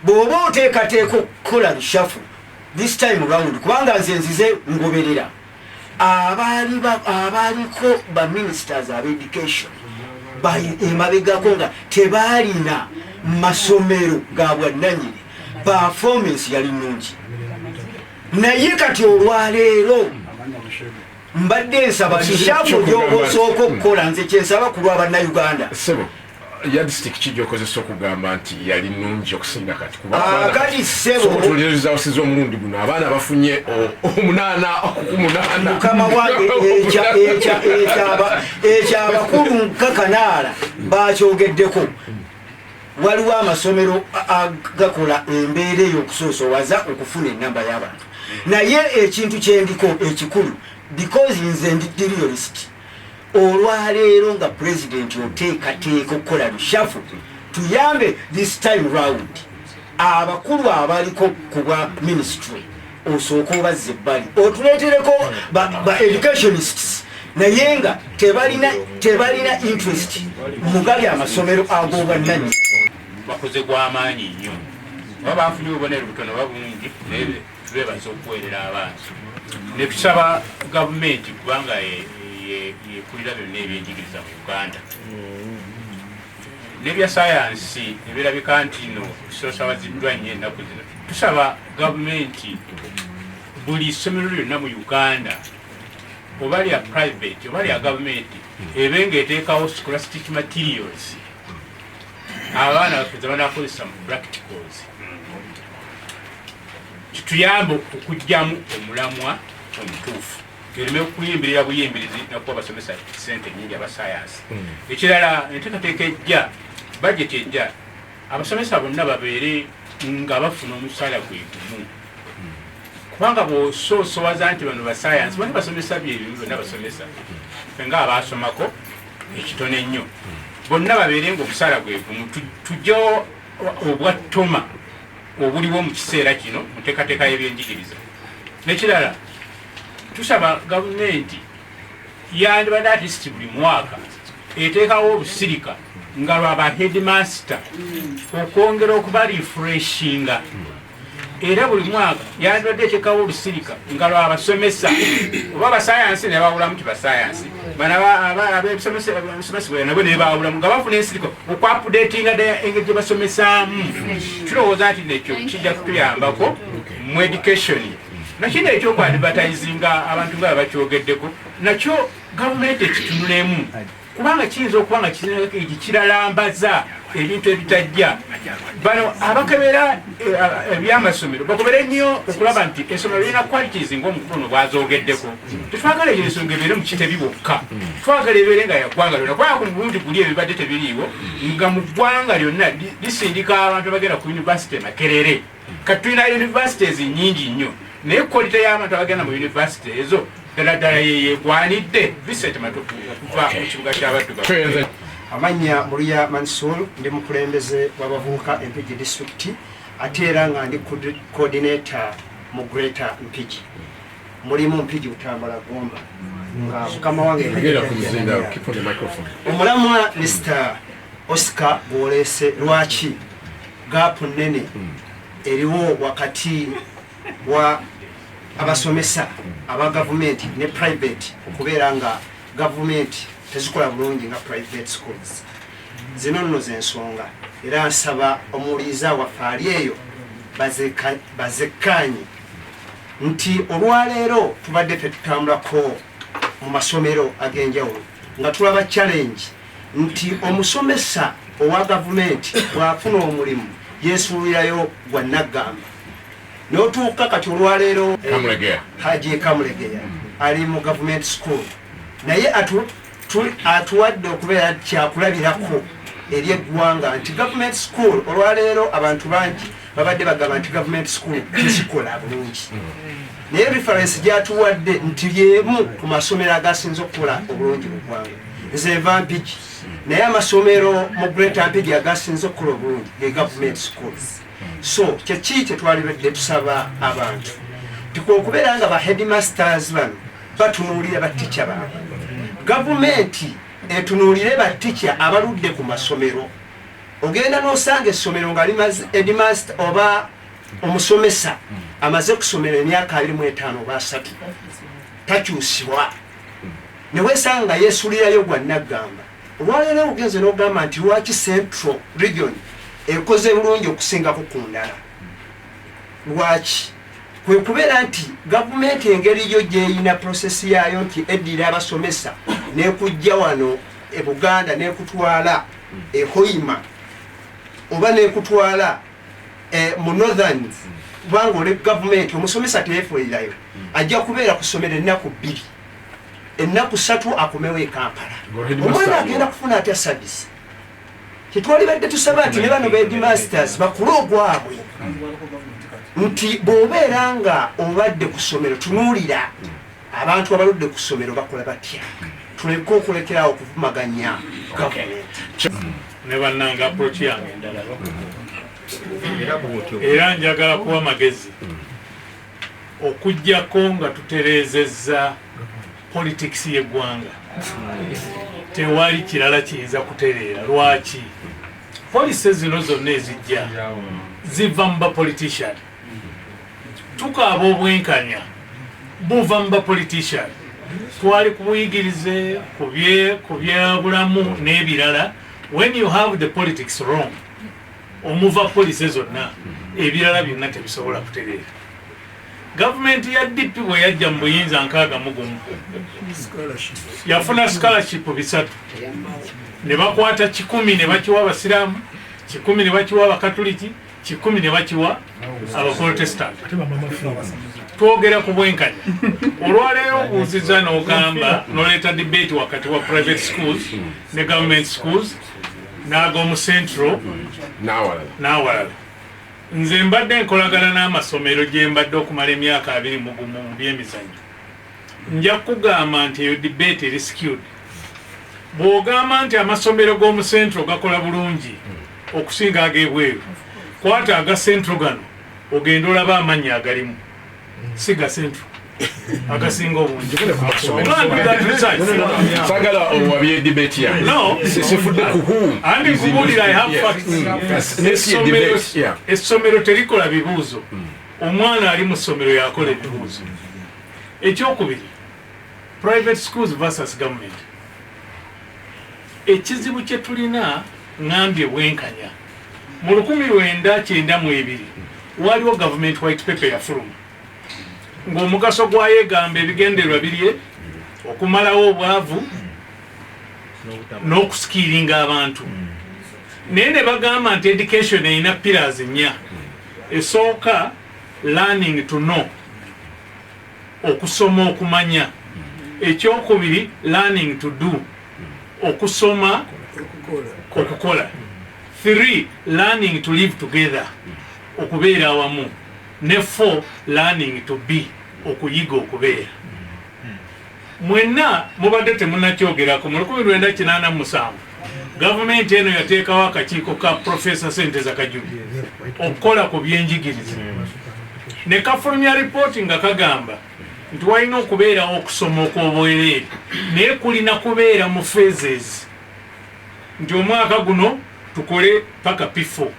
bw'oba oteekateeka okukola bishafu this time round kubanga nze nzize ngoberera abaali abaaliko ba ministers aba education emabegako nga tebaalina masomero ga bwannanyini performance yali nungi naye kati olwaleero mbadde nsaba kishafu gyobosooka okukola nze kyensaba ku lwa bannayuganda yadisitiki ki gyokozesa okugamba nti yali nungi okusinga kati kubakati ah, sebotulirizaosiza omulundi guno abaana bafunye omunaana okumunaanamukama wange ekyabakulu nkakanaala bakyogeddeko waliwo amasomero agakola embeera eyo okusoosowaza okufuna enamba y'abantu naye ekintu kyendiko ekikulu because nze ndi diriyolisiti olwaleero nga president oteekateeka okukola lushafu tuyambe this time round abakulu abaliko kubwa ministry osooka obazza ebbali otuleetereko ba educationists naye nga tebalina tebalina interest mugali amasomero agobwannanyi bakoze gwamaanyi nnyo oba bafunye obubonero butono babungi tubebaza okuweerera abantu netusaba gavumenti kubanga yekulira byonna ebyenjigiriza mu uganda nebya sayansi ebirabika nti no sosawaziddwa nnyo ennaku zino tusaba gavumenti buli ssomero lyonna mu uganda oba lya private oba lya gavumenti ebe nga eteekawo scholastic materials abaana bafeza banakozesa mu practicals kituyambe okujjamu omulamwa omutuufu ereme okuyimbirira buyimbirizi nakuba basomesa sente nyingi abasayansi hmm. ekirala enteekateeka ejja bajeti ejja abasomesa bonna babeere nga bafuna omusaala gwe gumu hmm. kubanga bwosoosowaza nti bano basayansi bana basomesa byebimu byonna basomesa fe nga abaasomako ekitono ennyo bonna babeere nga omusaala gwe gumu tujjawo obwa toma obuliwo mu kiseera kino mu nteekateeka y'ebyenjigiriza nekirala tusaba gavumenti yandibadde atisiti buli mwaka eteekawo olusirika nga lwaba headmaster okwongera okuba refreshinga era buli mwaka yandibadde eteekawo olusirika nga lwabasomesa oba basayansi ne bawulamu ti basayansi abebisomesebweyanabwe ne bawulamu nga bafuna ensirika okwapudetinga ddala engeri gye basomesaamu tulowooza nti nekyo kijja kutuyambako mu education nakino ekyokwadibataizinga abantu nga babakyogeddeko nakyo gavumenti ekitunulemu kubanga kiyinza okuba nga kizinagakirigi kiralambaza ebintu ebitajja bano abakebera eh, ebyamasomero bakubere nnyo okulaba nti esomero lirina qualities ngaomukulu no bwazogeddeko tetwagala eyo ensonga ebeere mukitebi bokka twagala ebeere nga yaggwanga lyona kubanga ku mulundi guli ebibadde tebiriiwo nga mu ggwanga lyonna lisindika abantu abagenda ku univesity makerere kati tulina universities nyingi nnyo naye kolita y'abantu abagenda mu university ezo ddala ddala yeyegwanidde visent matuku okuva mu kibuga ky'abaddugavu amannya muluya mansul ndi mukulembeze w'abavubuka empigi district ate era nga ndi coordinator mu greater mpigi mulimu mpigi butambala gomba nga mukama wange omulamwa mr oscar gwolese lwaki gaapu nnene eriwo wakati wa abasomesa aba gavumenti ne private okubeera nga gavumenti tezikola bulungi nga private schools zino nno zensonga era nsaba omuwuliriza waffe ali eyo bazekkaanye nti olwaleero tubadde fetutambulako mu masomero ag'enjawulo nga tulaba challenge nti omusomesa owa gavumenti bw'afuna omulimu yeesuulirayo gwa nnaggamba n'otuuka kati olwaleero eh, haji kamulegeya ali mu gavumenti school naye atuwadde okubeera kyakulabirako eri eggwanga nti gavumenti school olwaleero abantu bangi babadde bagamba nti gavumenti sukulu tezikola bulungi naye referensi gyatuwadde nti lyemu ku masomero agasinza okukola obulungi mu ggwanga nze nva mpigi naye amasomero mu greta mpigi agasinza okukola obulungi ge gavumenti sukulu so kyeki kyetwalibadde tusaba abantu tikwekubeera nga ba headmasters bano batunuulira batica baabwe gavumenti etunuulire batica abaludde ku masomero ogenda nosanga essomero nga limaze edimast oba omusomesa amaze kusomera emyaka abiri mu etaano oba asatu takyusibwa newesanga nga yesulirayo gwa naggamba olwaleero ogenze nogamba nti lwaki central region ekoze bulungi okusingako ku ndala lwaki kwekubeera nti gavumenti engeri yo gyeyina prosesi yaayo nti eddira abasomesa nekujja wano e buganda nekutwala e Hoima oba nekutwala eh, mu Northerns kubanga oli gavumenti omusomesa teyefuulirayo hmm. ajja kubeera ku ssomero ennaku bbiri ennaku ssatu akomewo e Kampala omwana agenda kufuna atya service tetwalibadde tusaba nti ne bano bedmasters bakule ogwabwe hmm. nti bw'obeera nga obadde ku ssomero tunuulira hmm. Abantu abaludde ku ssomero bakola batya? Tuleke okulekera awo okuvumaganya gavumenti. Ne bannange approach yange endala era njagala kuwa amagezi okujjako nga tutereezezza politics y'eggwanga tewali kirala kiyinza kutereera. Lwaki? Policy zino zonna ezijja ziva mu bapolitician. tukaaba obwenkanya buva mu bapolitician twali kubuyigirize ku byabulamu n'ebirala when you have the politics wrong omuva polisi zonna ebirala byonna tebisobola kutereera gavumenti ya dp bwe yajja mu buyinza nkaaga mugumu yafuna scholarship bisatu ne bakwata kikumi ne bakiwa abasiraamu kikumi ne bakiwa abakatuliki kikumi ne bakiwa abaprotestant twogera ku bwenkanya olwaleero obuuziza n'ogamba noleeta debate wakati wa private schools ne government schools n'ag'omu central n'awalala nze mbadde nkolagana n'amasomero gye mbadde okumala emyaka abiri mugumu mu byemizanyo nja kugamba nti eyo debate eri skewed bw'ogamba nti amasomero g'omu central gakola bulungi okusinga ag'ebweru kwata aga central gano ogenda olaba amannya agalimu si ga central agasinga obungisagala owabye debate ya sifudde kuhuuessomero terikola bibuuzo hmm. omwana ali mu ssomero yakola ebibuuzo ekyokubiri private schools versus government Ekizibu kye tulina ngambye bwenkanya. Mu lukumi lwenda kyenda mu ebiri waaliwo government white paper eyafuluma ng'omugaso gwayo egamba ebigendererwa birye okumalawo obwavu n'okusikiiringa abantu naye ne bagamba nti education erina pillars nnya esooka learning to know okusoma okumanya ekyokubiri learning to do okusoma okukola three learning to live together okubeera awamu ne four learning to be okuyiga okubeera Mwenna mubadde temunakyogerako, mu lukumi lwenda kinaana mu musanvu gavumenti eno yateekawo akakiiko ka Profesa Senteza Kajuni okukola ku byenjigiriza ne kafulumya ripooti nga kagamba nti walina okubeerawo okusoma okw'obwereere naye kulina kubeera mu phases nti omwaka guno tukole paka pifo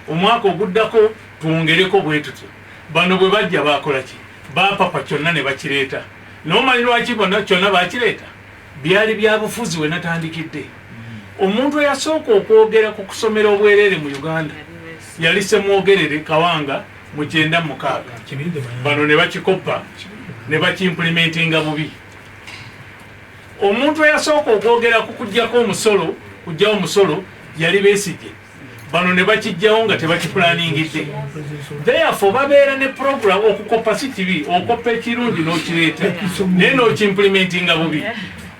omwaka oguddako twongereko bwe tutyo bano bwe bajja baakola ki baapapa kyonna ne bakireeta Naye omanyi lwaki bona kyonna bakireeta? Byali bya bufuzi we natandikidde. Omuntu eyasooka okwogera ku kusomera obwereere mu Uganda yali Ssemwogerere Kawanga mu kyenda mu mukaaga, bano ne bakikoppa ne bakimpulimentinga bubi. Omuntu eyasooka okwogera ku kuggyako omusolo kuggyawo musolo yali Besigye. bano ne bakijjawo nga tebakiplaningidde therefore babeera ne program okukoppa si kibi okoppa ekirungi n'okireeta naye n'okimplementinga bubi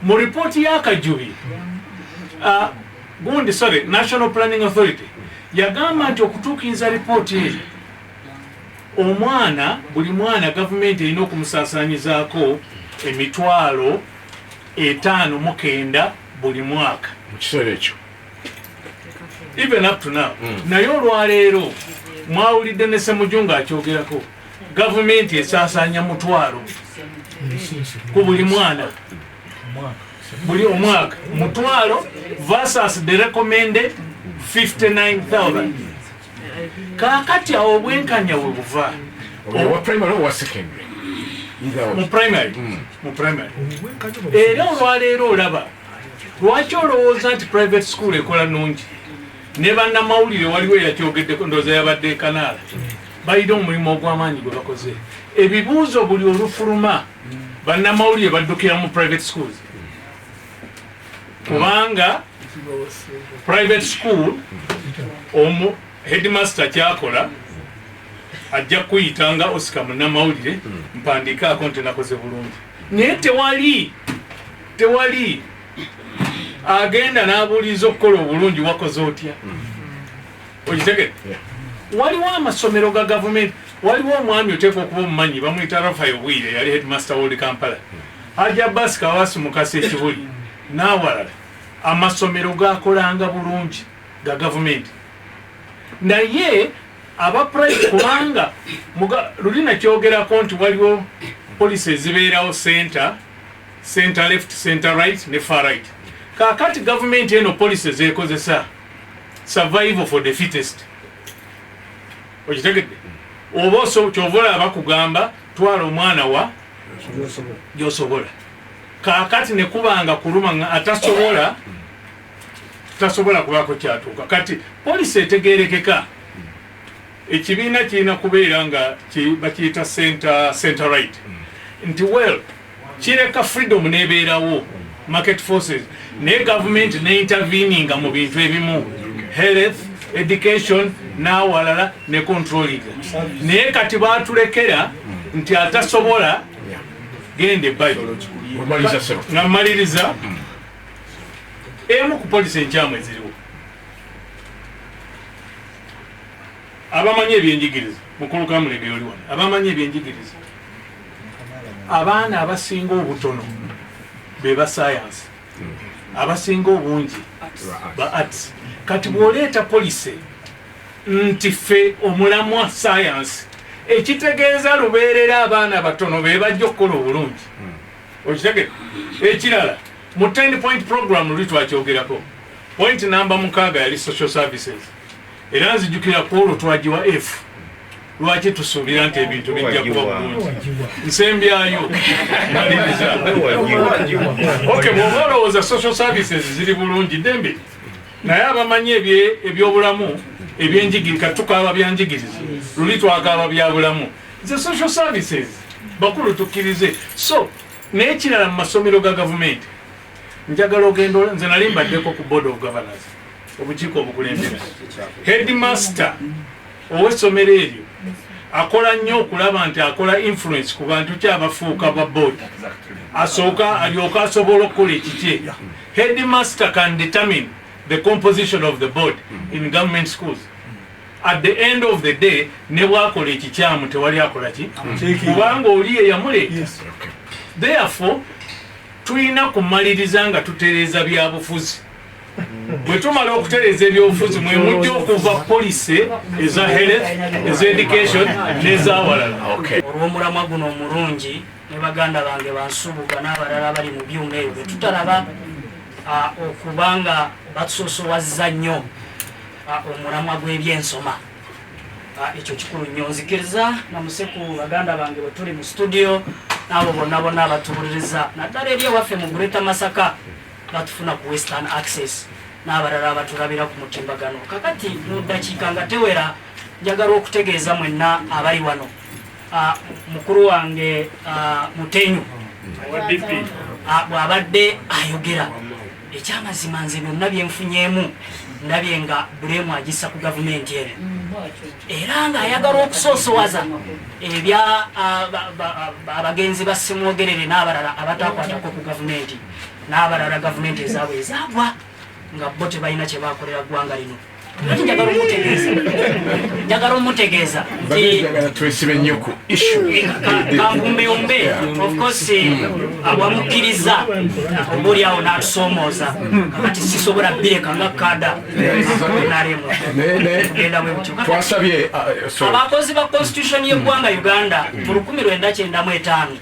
mu ripooti y'akajubi uh, gundi sorry national planning authority yagamba nti okutuukiriza ripooti eyo omwana buli mwana gavumenti erina okumusaasanyizaako emitwalo etaano mukenda buli mwaka mu kiseera ekyo even up to now mm. naye olwaleero mwawulidde ne semuju nga akyogerako gavumenti esasanya mutwalo ku buli mwana buli omwaka mutwalo versus the recommended 59000 kakati awo obwenkanya we buva mu primary era olwaleero olaba lwaki olowooza nti private school ekola nungi ne bannamawulire waliwo eyakyogeddeko ndooza yabadde ekanaala balina omulimu ogw'amaanyi gwe bakoze ebibuuzo buli olufuluma bannamawulire baddukira mu private schools kubanga private school omu headmaster kyakola ajja kuyita nga osika munnamawulire mpandiikaako nti nakoze bulungi naye tewali tewali agenda n'abuuliza okukola obulungi wakoze otya okitegere waliwo amasomero ga gavumenti waliwo omwami oteekwa okuba omumanyi bamuyita rafayo bwire yali headmaster wold kampala aja basi kawasi mukasa ekibuli n'awalala amasomero gakolanga bulungi ga gavumenti naye aba private kubanga luli nakyogerako nti waliwo polisi ezibeerawo center Centre left, centre right ne far right. Kakati government eno policy zekozesa survival for the fittest. Okitegedde? Oba oso kyovola abakugamba twala omwana wa gyosobola. Kakati ne kubanga kuluma nga atasobola tasobola kubako kyatuuka. Kati policy etegerekeka. Ekibiina kirina kubeera nga bakiyita center, center right. Mm. Nti well kireka freedom nebeerawo market forces naye gavumenti ne interveninga mu bintu ebimu health education n'awalala ne controlling naye kati baatulekera nti atasobola gende bayo nga mmaliriza emu ku polisi enkyamu eziriwo Abamanyi ebyenjigiriza mukulu Kamulegeya oli wano, abamanyi ebyenjigiriza, abaana abasinga obutono be ba sayansi, abasinga obungi ba arts. Kati bw'oleeta policy nti ffe omulamwa sayansi, ekitegeeza lubeerera abaana batono be bajja okukola obulungi. Okitegere ekirala mu 10 point program luli twakyogerako point namba mukaaga yali social services Era nzijukira ku olwo twagiwa efu lwaki tusuubira nti ebintu bijja kuba bulungi nsembyayo maliriza ok bwoba olowooza social services ziri bulungi dembe naye abamanyi ebyobulamu ebyenjigiri katukaaba byanjigiriza luli twakaaba byabulamu ze social services bakulu tukkirize so nekirala mu masomero ga gavumenti njagala ogenda nze nali mbaddeko ku board of governors obukiiko obukulembera headmaster owesomero eryo akola nnyo okulaba nti akola influence ku bantu ki abafuuka ba board asooka alyoka asobola okukola ekikye headmaster can determine the composition of the board in government schools at the end of the day ne bwakola ekikyamu tewali akola ki kubanga oli yeyamuleeta therefore tulina kumaliriza nga tutereeza byabufuzi bwetumala okutereza ebyobufuzi mwemujja okuva polise eza health eza education nezawalala olwomulamwa guno omulungi ne baganda bange bansubuga n'abalala abali mu byuma ebyo bwetutalaba okuba nga batusosowaza nnyo omulamwa gw'ebyensoma ekyo kikulu nnyo nzikiriza namuseku baganda bange bwetuli mu studio n'abo bonna bonna abatubuliriza naddala eri ewaffe mu gureta masaka batufuna ku western access n'abalala abatulabira ku mutimbagano kakati mu ddakiika nga tewera njagala okutegeeza mwenna abali wano ah, mukulu wange ah, mutenyu ah, bw'abadde ayogera ekyamazima nze byonna byenfunyeemu ndabye nga bulemu agissa ku gavumenti eno era ng'ayagala okusoosowaza ebya abagenzi ba simwogerere n'abalala abatakwatako ku gavumenti n'abalala gavumenti ezaabwe ezaagwa nga bo tebalina kye bakolera ggwanga lino ati njagala omutegeeza njagala omutegeeza twesibe nnyo ku issuekambumbeyumbe ofcourse awamukkiriza obuli awo n'atusoomooza kati sisobola bireka nga kada nalemugendawebutyotwasabye abakozi ba constitution y'eggwanga uganda mu lukumi lwenda kyendamu etaano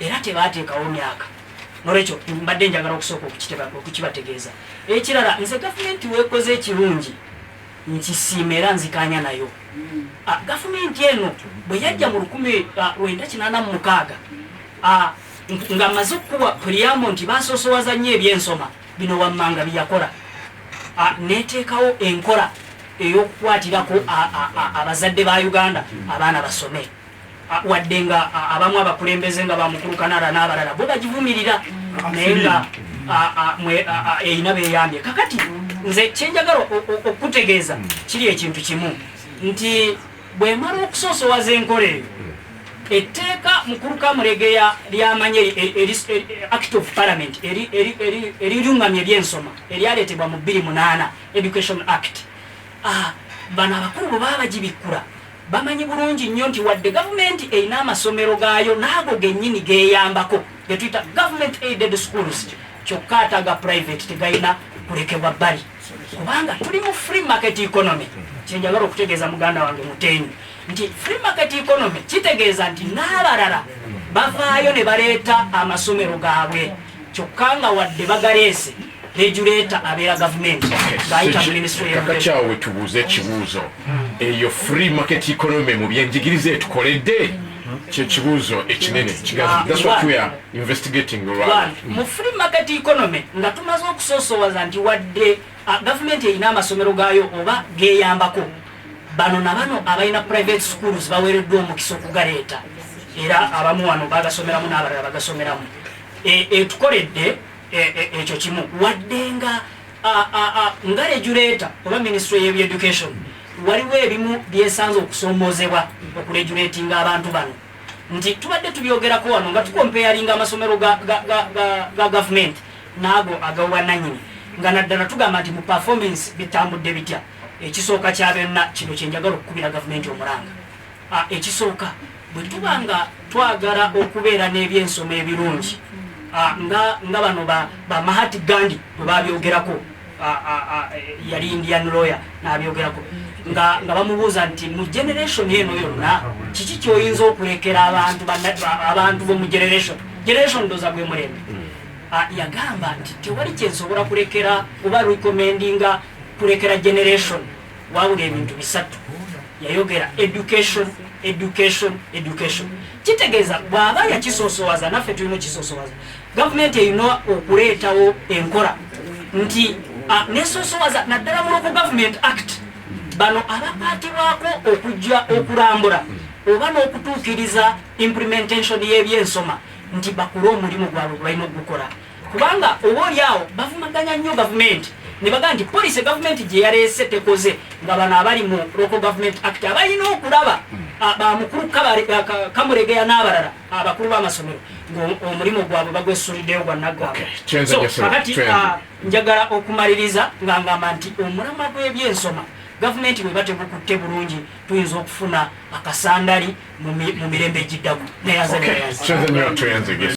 era tebaateekawo myaka nolwekyo mbadde njagala okusooka okukibategeeza ekirala nze gavumenti weekoze ekirungi nkisiima era nzikaanya nayo hmm. ah, gavumenti eno bwe yajja mu lukumi ah, lwenda kinaana mu mukaaga ah, nga maze okukuwa puliyamo nti basosowaza nnyo ebyensoma bino wammanga byeyakola neteekawo enkola ey'okukwatirako abazadde ba uganda abaana basome wadde nga abamu abakulembeze nga bamukulu kanara n'abalala bo bagivumirira naye nga erina beyambye kakati nze kyenjagala okukutegeeza kiri ekintu kimu nti bwemala okusoosowaza enkola eyo etteeka mukulu kamulegeya lyamanya act of parliament erirungamya ebyensoma eryaleetebwa mu 28 education act bano abakulu bwe baba bagibikkula Bamanyi bulungi nnyo nti wadde gavumenti erina amasomero gaayo n'ago gennyini geeyambako ge tuyita government aided schools kyokka ate aga private tegalina kulekebwa bbali kubanga tuli mu free market economy kyenjagala okutegeeza muganda wange muteeni nti free market economy kitegeeza nti n'abalala bavaayo ne baleeta amasomero gaabwe kyokka nga wadde bagaleese regulator abeera gavumenti ng'ayita mu minisitule kakakyawo wetubuuza ekibuuzo hmm. eyo free market economy mu byenjigiriza etukoledde kyekibuuzo ekinene ah, mu free market economy nga tumaze okusoosowaza nti wadde ah, gavumenti erina amasomero gaayo oba geyambako Bano na bano abalina private schools baweereddwa omukisa okugaleeta era abamu wano bagasomeramu n'abalala bagasomeramu e, etukoledde e, e, ekyo kimu wadde nga nga regulator oba ministry yeb education waliwo ebimu byesanze okusoomozebwa okuregulatinga abantu bano nti tubadde tubyogerako wano nga tukompeyalinga amasomero ga gavumenti naago agawubwananyini nga naddala tugamba nti mu performance bitambudde bitya Ekisooka kya byonna, kino kye njagala okukubira gavumenti omulanga. A, Ekisooka, bwe tuba nga twagala okubeera n'ebyensoma ebirungi, a, nga, nga bano ba, ba Mahati Gandhi bwe baabyogerako, a, a, a, yali Indian lawyer, n'abyogerako, nga, nga bamubuuza nti, mu generation eno yonna, kiki ky'oyinza okulekera abantu, abantu b'omu generation, generation ndoza gwe mulembe. Mm. A, yagamba nti, tewali kye nsobola kulekera oba recommendinga kulekera generation wabula ebintu bisatu yayogera education education education kitegeeza bwaba yakisosowaza naffe tulina okisosowaza gavumenti erina okuleetawo enkola nti nesosowaza naddala muloku government act bano abakwatibwako okujja okulambula oba n'okutuukiriza implementation y'ebyensoma nti bakole omulimu gwabwe gwebalina okugukola kubanga oba oli awo bavumaganya nnyo gavumenti ne bagamba nti poliisi gavumenti gye yaleese tekoze nga bano abali mu local government act abalina okulaba hmm. bamukulu kamuregeya n'abalala abakulu b'amasomero ngaomulimu gwabwe bagwesuliddeyo gwanaggwakakati njagala okumaliriza nga ngamba nti omulama gw'ebyensoma gavumenti bweba tegukutte bulungi tuyinza okufuna akasandali mu mirembe egiddako naye aze